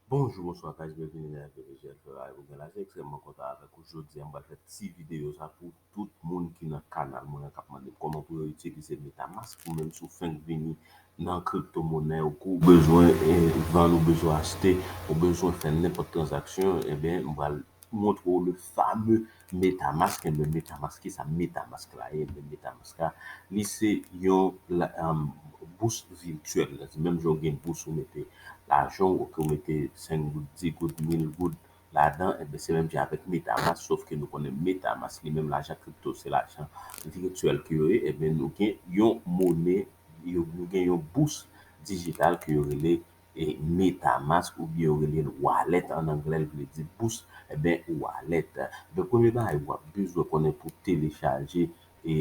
Bonjou bonswa guys byen vini nan FB Visuel Ferrari pou gen la se ekstrèmman kontan avèk ou jodia m pral fè ti videyo sa pou tout moun ki nan kanal mwen an kap mandem kòman pou yo itilize metamask ou menm si w fenk vini nan crypto monè ou kou bezwen vann ou bezwen achte ou bezwen fè nenpòt tranzaksyon ebyen m pral montre w le fameux Metamask enben metamask kisa metamask la ye enben metamask la li se yon bous vityèl menm jan ou gen bous ou mete lajan ou ke ou mete 5 goud 10 goud 1000 goud ladan enben se menm jan avèk metamask sof ke nou konnen metamask li menm lajan kripto se lajan vityèl ke yo ye enben nou gen yon mone nou gen yon bous dijital ke yo rele e metamask ou byen yo rele l wallet an anglè l vle di bous e byen wallet donk premye bagay wap bezwen konnen pou telechaje e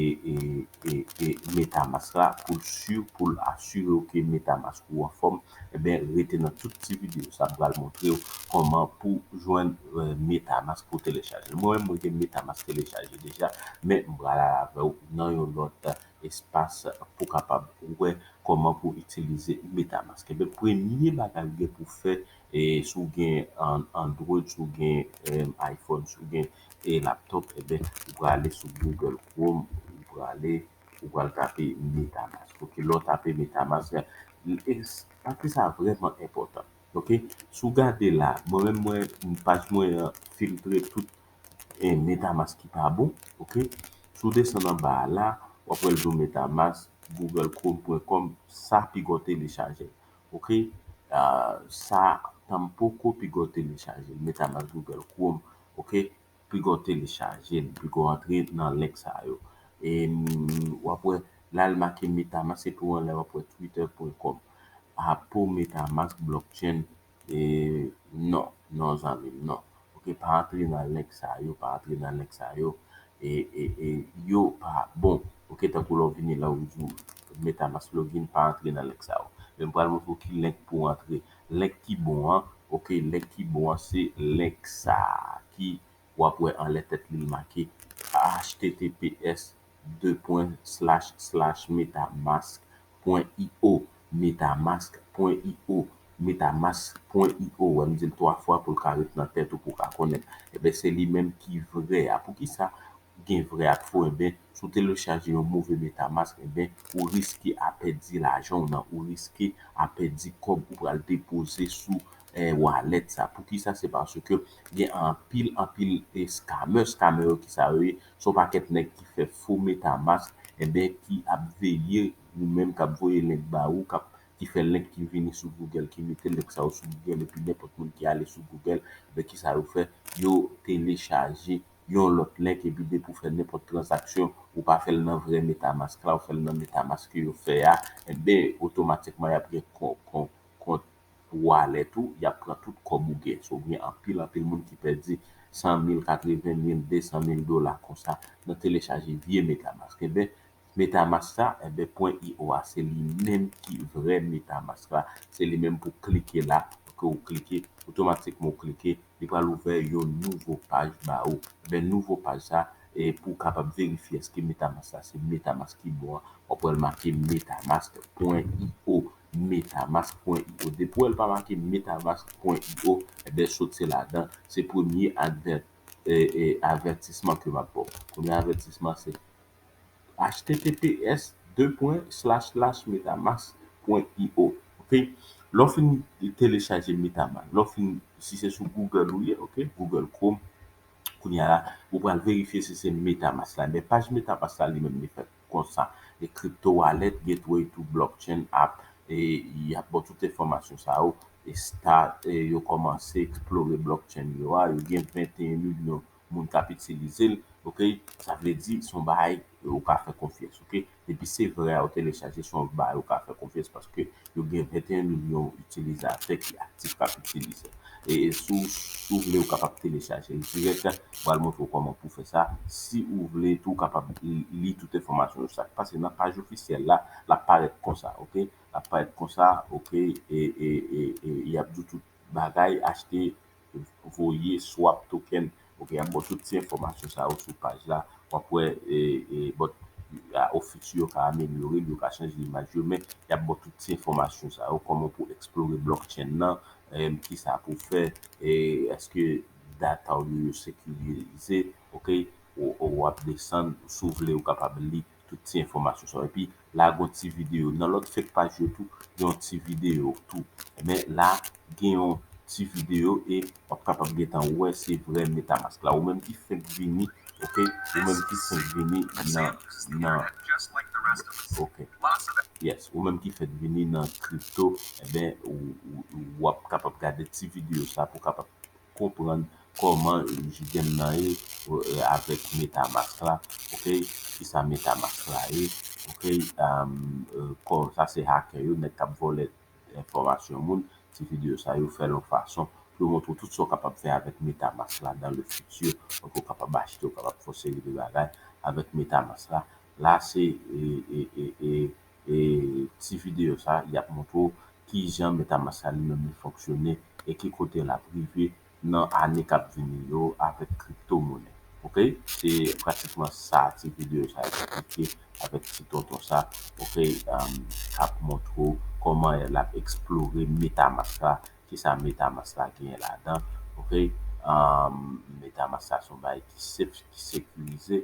e metamask la pou l si pou l asire w ke metamask ou anfòm e byen rete nan tout ti video sa m pral montre w kòman pou jwenn metamask pou telechaje mwen menm mwen gen metamask telechaje deja men m pral al avè w nan yon lòt. espas pou kapab wè kòman pou itilize Metamask. Enben premye bagay ou gen pou fè si w gen Android, si w gen iPhone, si w gen laptop enben ou prale sou Google Chrome, ou prale ou pral tape Metamask ok. Lè w tape Metamask pati sa a vrèman enpòtan ok. Si w gade la mwen menm mwen paj mwen an filtre tout e metamask ki pa bon ok si w desann anba a la wap wè l di w metamask google chrome pwen kòm sa pi gò telechaje ok sa tanm poko pi gò telechaje metamask google chrome ok pi gò telechaje l pi gò antre nan link sa yo e wap wè la l make metamask epi w anlè wap wè twitter pwen kòm a pou metamask blockchain Non non zanmim non ok pa antre nan link sa yo pa antre nan link sa yo yo pa bon ok tankou lè ou vini la ou di metamask login pa antre nan link sa yo men m pral montre w ki link pou antre link ki bon an ok link ki bon an se link sa ki wap wè anlè tèt li l make https de pwen slash slash metamask pwen io metamask pwen io metamask pwen io wè m di l 3 fwa pou l ka ret nan tèt ou pou w ka konnen enben se li menm ki vrè a poukisa gen vrè ak fo enben si w telechaje yon move metamask enben ou riske a pèdi lajan w nan ou riske a pèdi kòb ou pral depoze sou wallet sa poukisa se paske gen anpil anpil eskamè skamè yo kisa yo ye se yon pakèt nèg ki fè fo metamask enben ki ap veye ou menm kap voye link ba ou kap ki fè link ki vini sou google ki mete link sa yo sou google epi nenpòt moun ki ale sou google men kisa yo fè yo telechaje yon lòt link epi depi ou fè nenpòt tranzaksyon ou pa fèl nan vrè metamask la ou fèl nan metamask ke yo fè a enben otomatikman yap gen kont pou walèt ou yap pran tout kòb ou gen so gen anpil anpil moun ki pèdi 100 mil 80 mil 200 mil dola konsa nan telechaje vye metamask enben metamask sa enben pwen io a se li menm ki vrè metamask la se li menm pou klike la ke ou klike otomatikman ou klike li pral ouvè yon nouvo paj ba ou enben nouvo paj sa e pou kapab verifye eske metamask sa se metamask ki bon an wap wèl make metamask pwen io. Metamask pwen io depi wèl pa make metamask pwen io ebyen sot se ladan se premye advè e avètisman ke map baw premye avètisman se https de pwen slash slash metamask pwen io ok lèw fin telechaje metamask lèw fin si se sou Google ou ye ok Google chrome kounya la ou pral verifye si se metamask la ebyen paj metamask la li menm li fèt. konsa e crypto wallet gateway to blockchain app e yap baw tout enfòmasyon sa yo e start e yo kòmanse eksplore blockchain yo a yo gen 21 milyon moun kap itilizel ok sa vle di son bagay ou ka fè konfyans ok depi se vrè a ou telechaje son bagay ou ka fè konfyans paske yo gen 21 milyon itilizatè ki aktif kap itilize l e si w vle ou kapab telechaje l dirèk mwen al montre w kòman pou w fè sa si ou vle tou ou kapab li tout enfòmasyon yo sak pase nan paj ofisyèl la lap parèt konsa ok lap parèt konsa ok e yap di w tout bagay achte voye swap token ok yap baw tout ti enfòmasyon sa yo sou paj la wap wè bot office yo ka amelyore yo ka chanje imaj yo men yap baw tout ti enfòmasyon sa yo kòman pou eksplore blockchain nan kisa pou fè èske data ou yo yo sekirize ok wap desann sou vle ou kapab li tout ti enfòmasyon sa yo epi la gon ti video nan lòt fake paj yo tou gen yon ti video tou men la gen yon ti video e wap kapab gentan wè se vrè metamask la ou menm ki fenk vini ok ou menm ki fenk vini nan nan ok yes ou menm ki fenk vini nan crypto enben ou wap kapab gade ti video sa pou kapab konprann kòman jidem nan ye avèk metamask la ok kisa metamask la ye ok kò sa se hakè yo nèg kap vòlè enfòmasyon moun ti video sa yo fèl yon fason pou yo montre w tout sa w kapab fè avèk metamask la dan le fiti ok ou kapab achte ou kapab fè yon seri de bagay avèk metamask la la se ti videyo sa a, y ap montre w ki jan Metamask la li menm li fonksyone e ki kote l ap rive nan ane k ap vini yo avèk kripto monè. Ok, se pratikman sa ti videyo sa a eksplike avèk ti tonton sa ok k ap montre w kòman l ap eksplore Metamask la, ki sa Metamask la genyen ladan ok. Metamask la se yon bagay ki sef, ki sekirize.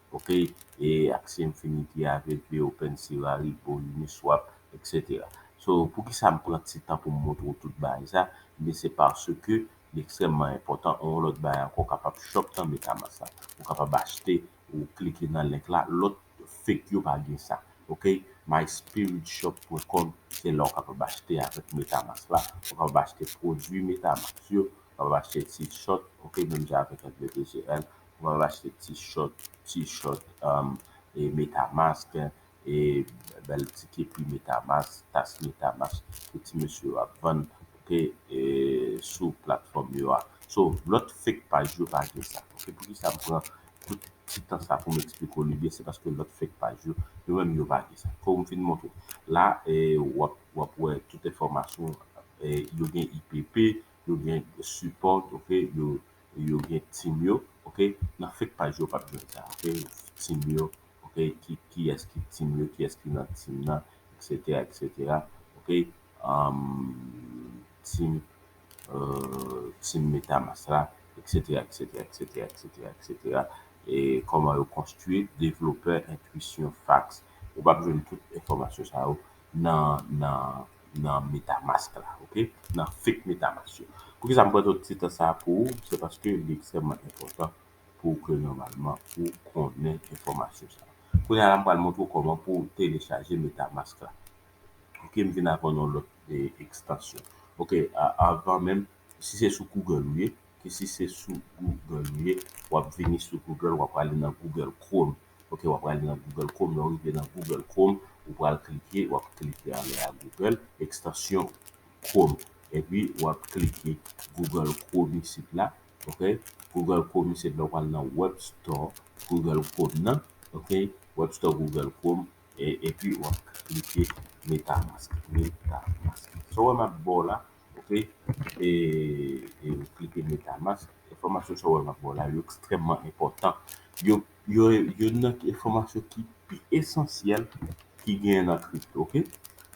ok e aksè infinity avp open sierra repo uniswap etc so poukisa m pran ti tan pou m montre w tout bagay sa ebyen se paske li ekstrèmman enpòtan yon lòt bagay ankò kapab shop nan metamask la ou kapab achte ou klike nan link la lòt fake yo pa gen sa ok myspiritshop pwen kòm se la ou kapab achte avèk metamask la ou kapab achte pwodui metamask yo ou kapab achte ti short ok menm jan avèk mptgl mwen va achte ti short ti short e metamask e bèl ti kepi metamask tas metamask ke ti mesye yo ap vann ok e sou platfòm yo a so lòt fek paj yo pa gen sa ok poukisa m pran tout ti tan sa poum eksplike w li byen se paske lòt fek paj yo yo menm yo pa gen sa kou m fin montre la e wap wap wè tout enfòmasyon e yo gen IPP yo gen support ok yo yo gen team yo ok nan fek paj yo pap jwenn sa ok team yo ok kiyes ki team yo kiyes ki nan team nan etc etc ok team team metamask la etc etc etc etc etc koman yo konstwi developer entwisyon fax ou pap jwenn tout enfomasyon sa yo nan nan. nan metamask la ok nan fake metamask yo poukisa m pran tout ti tan sa pou ou se paske li ekstrèmman enpòtan pou w ke nòmalman ou konnen enfòmasyon sa kounya la m pral montre w kòman pou w telechaje metamask la ok m vin avèw nan yon lòt ekstansyon ok avan menm si se sou google ou ye si se sou google ou ye w ap vini sou google w ap prale nan google chrome ok wap prale nan Google Chrome lèw rive nan Google Chrome ou pral klike wap klike ale a Google ekstansyon Chrome epi wap klike Google Chrome isit la ok Google Chrome isit la ou pral nan web store Google Chrome nan ok web store Google Chrome epi wap klike MetaMask MetaMask sa ou wè map baw la ok eee klike MetaMask enfòmasyon sa ou wè map baw la yo ekstrèmman enpòtan yo Yo e youn nan enfòmasyon ki pi esansyèl ki genyen nan crypto ok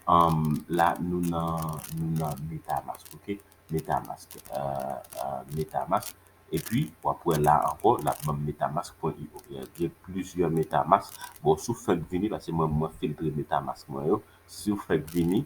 umm la nou nan nou nan metamask ok metamask euh metamask epi wap wè la ankò lap banm metamask pwen io gen plizyè metamask bon sou fèk vini paske mwen mwen filtre metamask mwen yo siw fèk vini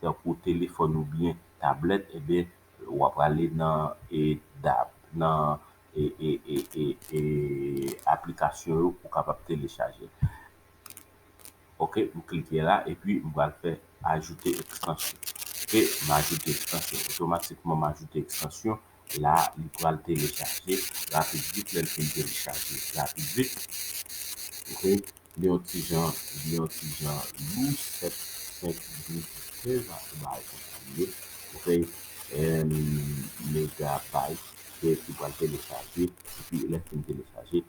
tankou telefòn oubyen tablèt enben wa prale nan e dab nan e e e e e aplikasyon yo pou kapab telechaje ok m klike la epi m pral fè ajoute ekstansyon ok m ajoute ekstansyon otomatikman m ajoute ekstansyon la li pral telechaje rapid vit lèl fin telechaje rapid vit ok Li yon ti jan li yon ti jan lou 7 5 10 15 ans ou bay kontinye ok 1 megabyte ke ki pral telechaje epi lè fin telechaje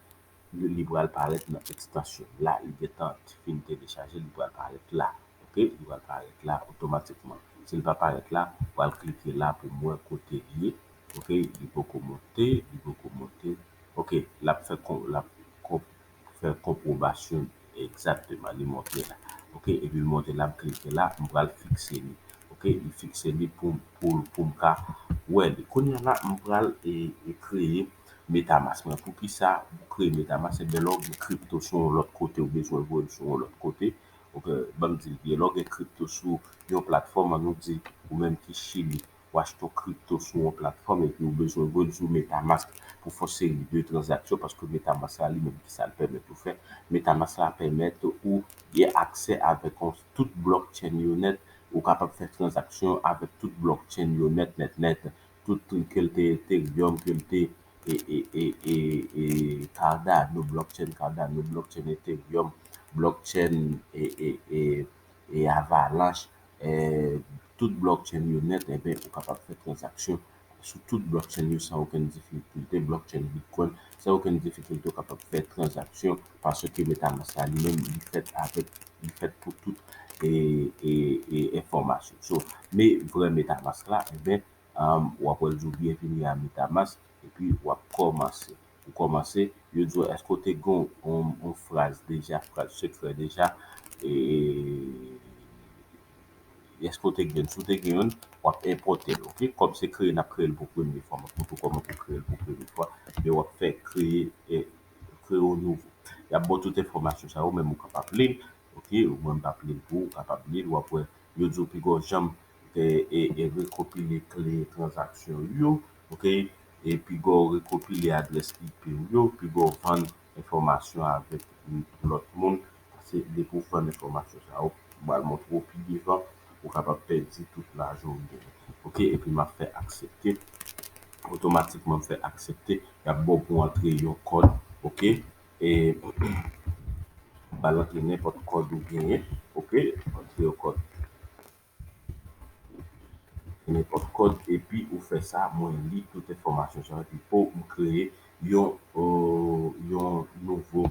li pral parèt nan extension la li gentan fin telechaje li pral parèt la ok li pral parèt la otomatikman si li pa parèt la ou al klike la pou wè kote li ye ok li poko monte li poko monte ok lap fè lap fè konpwobasyon li egzakteman li montre la ok epi li montre la m klike la m pral fikse li ok m fikse li pou poum ka wè li kounya la m pral kreye metamask mwen poukisa m kreye metamask ebyen lè w gen kripto sou yon lòt kote ou bezwen voye l sou yon lòt kote ok banm di l byen lè w gen kripto sou yon platfòm annou di ou menm ki chili ou achte yon crypto sou yon platfòm epi ou bezwen rezo metamask pou fon seri de tranzaksyon paske metamask la li menm kisa li pèmèt ou fè metamask la pèmèt ou gen aksè avèk yon tout blockchain yo nèt ou kapab fè tranzaksyon avèk tout blockchain yo nèt nèt nèt tout tou kel te ethereum kel te cardano blockchain cardano blockchain ethereum blockchain e avalanche tout blockchain yo nèt enben ou kapab fè transaksyon sou tout blockchain yo san okenn difikilte blockchain bitcoin san okenn difikilte ou kapab fè transaksyon paske metamask la li menm li fèt avèk li fèt pou tout e enfòmasyon so me vrè metamask la enben wap wèl di w byenvini a metamask. Epi wap kòmanse. Ou kòmanse, yo di w èske ou te gen yon fraz deja, fraz sekrè deja, e èske ou te gen youn. Si w te gen youn, wap enpòte l ok. Kòm se kreye nap kreye l pou premye fwa, map montre w kòman pou kreye l pou premye fwa. Epi wap fè kreye e kreye yon nouvo. Yap ba w tout enfòmasyon sa yo men ou kapab li l ok. Ou menm pap li l pou ou, ou kapab li l. Wap wè yo di w pi gwo janm rekopile kle tranzaksyon ou yo, piga w rekopile adrès IP ou yo, piga w vann enfòmasyon avèk lòt moun, paske depi w vann enfòmasyon sa yo, m pral montre w pi devan, ou kapab pèdi tout lajan w genyen. Ok, epi m ap fè aksepte, otomatikman m fè aksepte, y ap ba w pou w antre yon kòd, ok, e ba l antre nenpòt kòd ou genyen, ok, antre yon kòd. nenpòt kòd epi ou fè sa mwen li tout enfòmasyon sa epi pouw m kreye yon yon nouvo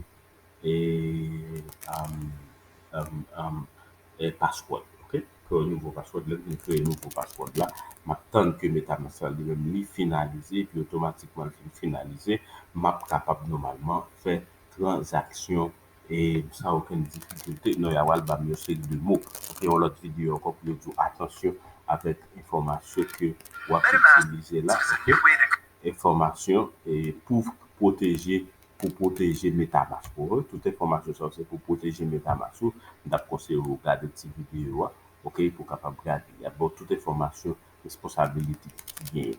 password ok kreye yon nouvo password lèm fin kreye nouvo password la map tann ke metamask la li menm li finalize epi otomatikman li fin finalize map kapab nòmalman fè tranzaksyon e san okenn difikilte non ya pral banm yon seri de mo pou fè yon lòt videyo ankò pou yo di w atansyon avèk enfòmasyon ke wap itilize la ok enfòmasyon pou pwoteje pou pwoteje metamask ou tout enfòmasyon sa yo se pou pwoteje metamask ou m tap konseye w gade ti videyo a ok pou w kapab gade yap ba w tout enfòmasyon responsabilite ki genyen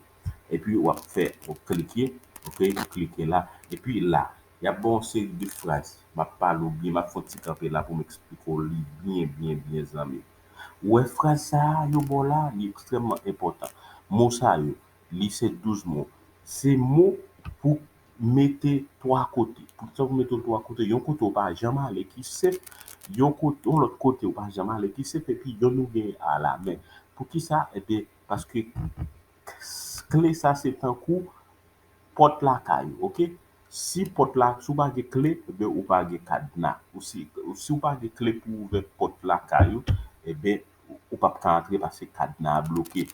epi wap fè wap klike ok klike la epi la Y ap ba w yon seri de fraz, m ap pale w byen, m ap fè yon ti kanpe la pou m eksplike w li byen byen byen zanmi m. Ou wè fraz sa a yo ba w la a, li ekstrèmman enpòtan. Mo sa yo, li se 12 mo. Se mo pou mete twa kote. Pou sa pou mete l twa kote? Yon kote ou pa janm ale ki senp, yon kote, yon lòt kote ou pa janm ale ki senp epi yonn ou gen alamen. Poukisa? Ebyen paske kle sa se tankou Pòt lakay ou ok si pòt la si ou pa gen kle ebyen ou pa gen kadna si ou pa gen kle pou ou ouvè pòt lakay ou ebyen ou pap ka antre paske kadna a bloke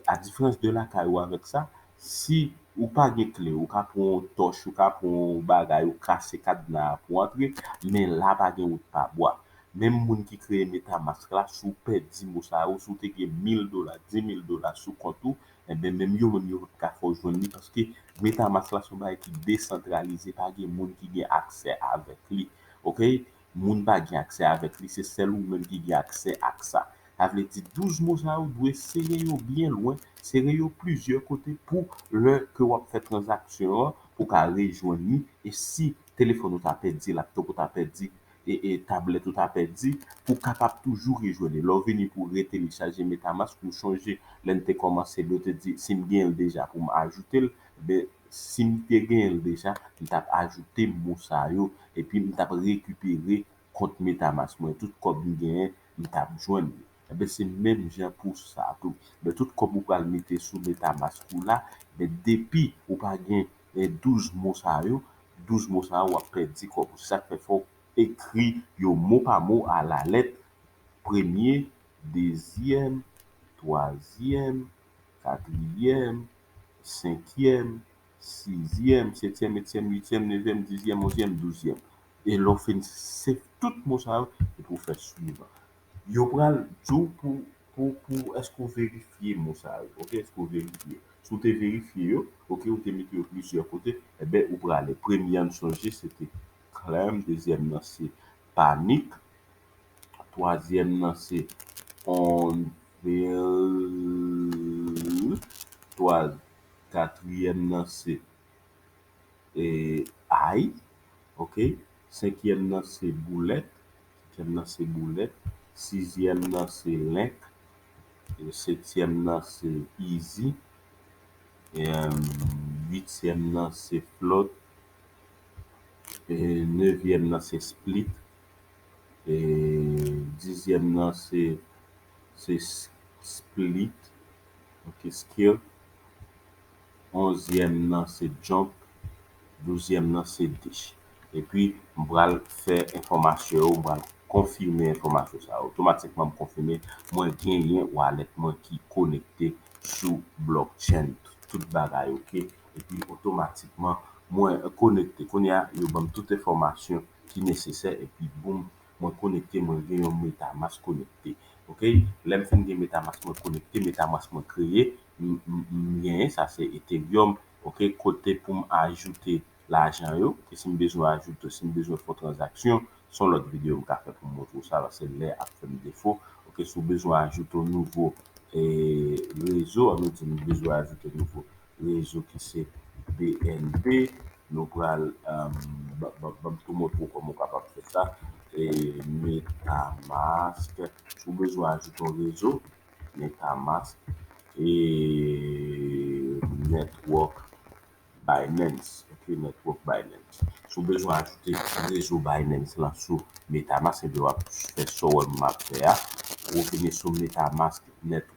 a diferans de lakay ou avèk sa si ou pa gen kle ou ka pran yon tòch ou ka pran yon bagay ou kase kadna a pou antre men la pa gen wout pa bwa menm moun ki kreye metamask la si ou pèdi mo sa yo si ou te gen mil dola dimil dola sou kont ou enben menm yo menm yo pap ka fè w jwenn li paske metamask la se yon bagay ki desantralize pa gen moun ki gen aksè avèk li ok moun pa gen aksè avèk li se sèl ou menm ki gen aksè ak sa sa vle di 12 mo sa yo dwe sere yo byen lwen sere yo plizyè kote pou lè ke wap fè tranzaksyon an ou ka rejwenn li e si telefòn ou ta pèdi laptòp ou ta pèdi tablet ou ta pèdi pou kapab toujou rejwe li lèw vini pou retelechaje metamask ou chonje lèn te kòmansel yo te di sim genyenl deja poum ajoutel ebyen sim te genyenl deja m tap ajoute mo sa yo epi m tap rekipere kont metamask mwen tout kòb m genyen m tap jwenn li ebyen se menm jan pou sa tou ebyen tout kòb ou pral mete sou metamask ou la ebyen depi ou pa gen 12 mo sa yo, 12 mo sa yo w ap pèdi kòb ou. Se sa k fè fò w ekri yo mo pa mo alalèt, premye, dezyèm, twazyèm, katriyèm, senkyèm, sizyèm, setyèm, ettyèm, uityèm, nevyèm, dizyèm, onzyèm, douzyèm. E lè w fin se tout mo sa yo epi w fè suivan. Yo pral di w pou pou pou èske ou verifye mo sa yo ok èske ou verifye si w te verifye yo ok ou te mete yo plizyè kote enben ou prale premye a m sonje se te clam dezyèm nan se panic twazyèm nan se on vil twa katriyèm nan se e ay ok senkyèm nan se boulèt Senkyèm nan se boulèt. Sizyèm nan se lenk. Setyèm nan se izi. Uityèm nan se flòt. Nevyèm nan se split. Dizyèm nan se skit. onzyèm nan se jump, douzyèm nan se dish. Epi m pral fè enfòmasyon yo, m pral konfime enfòmasyon sa yo. Otomatikman m konfime mwen genyen wallet mwen ki konekte sou blockchain tout bagay ok. Epi otomatikman mwen konekte. Kounye a yo banm tout enfòmasyon ki nesesè epi boom mwen konekte mwen gen yon metamask konekte ok lèm fin gen metamask mwen konekte metamask mwen kreye m genyen sa se ethereum ok kote poum ajoute lajan yo e sim bezwen ajoute sim bezwen fon tranzaksyon son lòt video m ka fè poum montre w sa paske lè ap fèm defo ok si w bezwen ajoute yon nouvo e rezo an nou di nou bezwen ajoute nouvo rezo ki se bnb nou pral banm tou montre w kòman w kapab fè sa metamask ou bezwen ajoute yon rezo metamask e network binance ok network binance si w bezwen ajoute rezo binance lan sou metamask ebyen wap fè sa w wè m ap fè a ou vini sou metamask net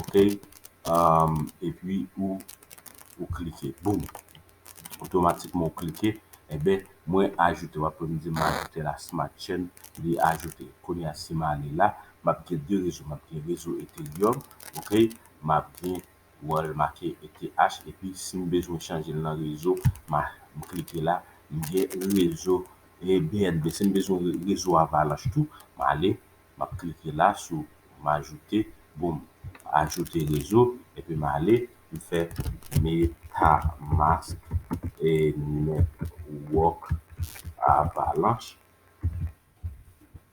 ok epi ou ou klike boom otomatikman ou klike enben mwen ajoute wap wèm dim ajoute la smart chain li ajoute kounya sim ale la map gen 2 rezo map gen rezo ethereum ok map gen wè l make ETH epi sim bezwen chanje l nan rezo ma klike la m gen rezo bnb sim bezwen rezo avalanche tou ma ale map klike la sou m'ajouter boom ajouter rezo epi m ale m fè metamask e network avalanche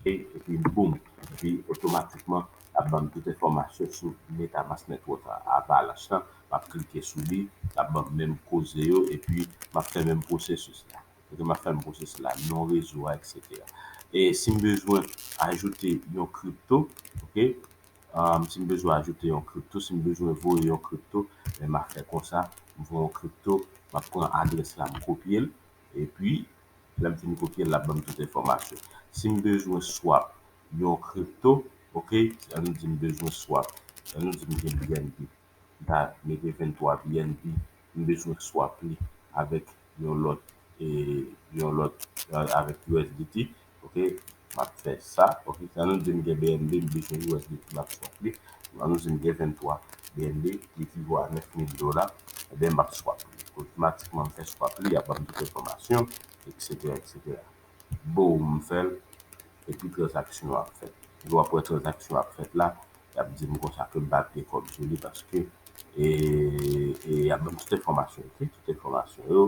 e epi boom epi otomatikman lap banm tout enfòmasyon sou metamask network avalanche lan map klike sou li lap banm menm koze yo epi map fè menm processus la. Ok map fèm pwosè sila non rezo a etc. E sim bezwen ajoute yon crypto ok sim bezwen ajoute yon crypto sim bezwen voye yon crypto men map fè konsa m voye yon crypto map pran adrès la m kopyel epi lèm fin kopyel lap banm tout enfòmasyon sim bezwen swap yon crypto ok an nou dim bezwen swap an nou dim gen bnb. dat me gen 23 bnb m bezwen swap li avèk yon lòt e yon lòt avèk usdt ok map fè sa ok an nou di m gen bnb m bezwen usdt map swap li an nou di m gen 23 bnb ki ekivo a 9000 dola ebyen map swap li otomatikman m fè swap li yap banm tout enfòmasyon eksetera eksetera boom m fèl epi tranzaksyon an ap fèt epi wap wè tranzaksyon an ap fèt la yap dim konsa kem pa pye kob sou li paske e yap banm tout enfòmasyon ok tout enfòmasyon yo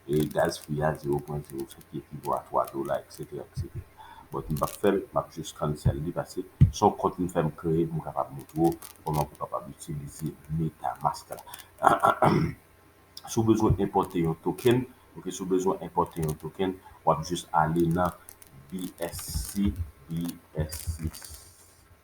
e gaz fi a zero pwen zero sèt ki ekivo a twa dola eksetera eksetera but m pap fèl map jus cancel li paske son kont m fèm kreye poum kapab montre w kòman pou kapab itilize metamask la si w bezwen enpòte yon token ok si w bezwen enpòte yon token wap jus ale nan bsc bsc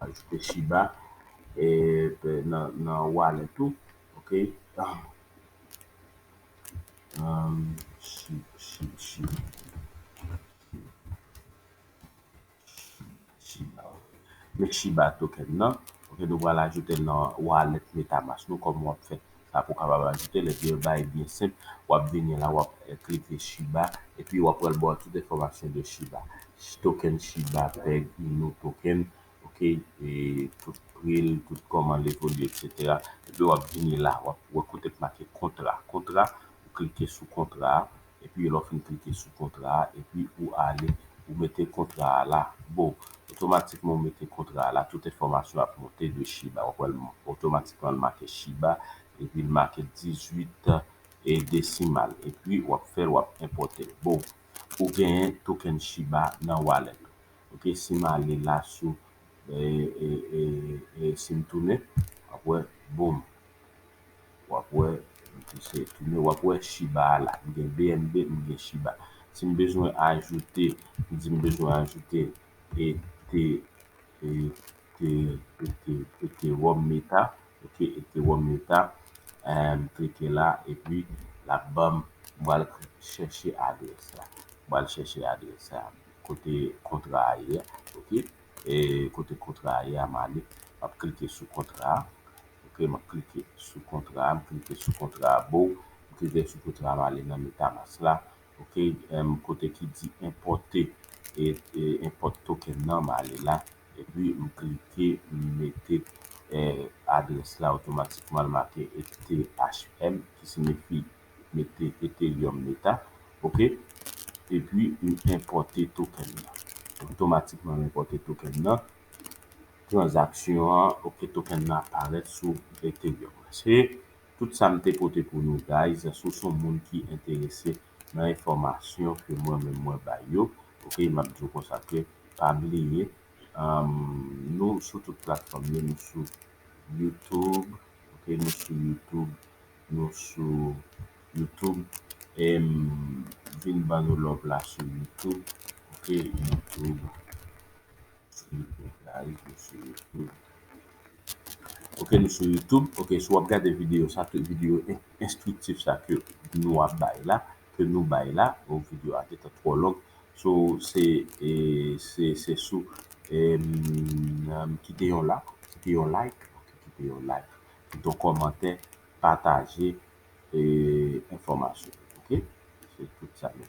Ajoute shiba nan wallet ou ok. Shiba token nan nou pral ajoute nan wallet metamask nou kòm wap fè. sa pou kapab ajoute l epi yo bay byen senp wap vini la wap klike shiba epi wap pral baw tout enfòmasyon de shiba token shiba peg inu token ok e tout pri l tout kòman l evolye etc epi wap vini la wap wè kote k make kontra kontra ou klike sou kontra a epi lè w fin klike sou kontra a epi ou ale ou mete kontra a la boo otomatikman ou mete kontra a la tout enfòmasyon ap monte de shiba wap wè otomatikman l make shiba epi l make 18 e desimal epi wap fèl wap enpòte l boo ou genyen token shiba nan wallet ou ok si m ale la sou ee si m tounen wap wè boom. wap wè se tounen wap wè shiba a la m gen bnb m gen shiba si m bezwen ajoute m di m bezwen ajoute e te e te e te e te wòm meta ok e te wòm meta em m klike la epi lap banm m pral chèche adrès la m pral chèche adrès sa kote kontra a ye ok. E kote kontra a ye a Malick? Map klike sou kontra a ok map klike sou kontra a m klike sou kontra a boo m klike sou kontra a m ale nan metamask la ok m kote ki di enpòte e enpòt token nan m ale la epi m klike m mete adrès la otomatikman l make ethm ki signifi mete ethereum meta ok epi ou enpòte token nan otomatikman enpòte token nan transaksyon an ok token nan ap parèt sou ethereum se tout sa m te pote pou nou guys si w se yon moun ki enterese nan enfòmasyon ke mwen menm mwen bay yo ok m ap di w konsa ke pa bliye nou sou tout platfòm yo nou sou youtube ok nou sou youtube nou sou YouTube e m vin ban nou love la sou YouTube ok YouTube YouTube la wi nou sou YouTube ok nou sou YouTube ok si w ap gade videyo sa ke videyo enstriktif sa ke nou ap bay la ke nou bay la bon videyo a te ka twò long so se se se sou kite yon lak kite yon like kite yon like. kito komante pataje enfòmasyon ok se tout sa nou.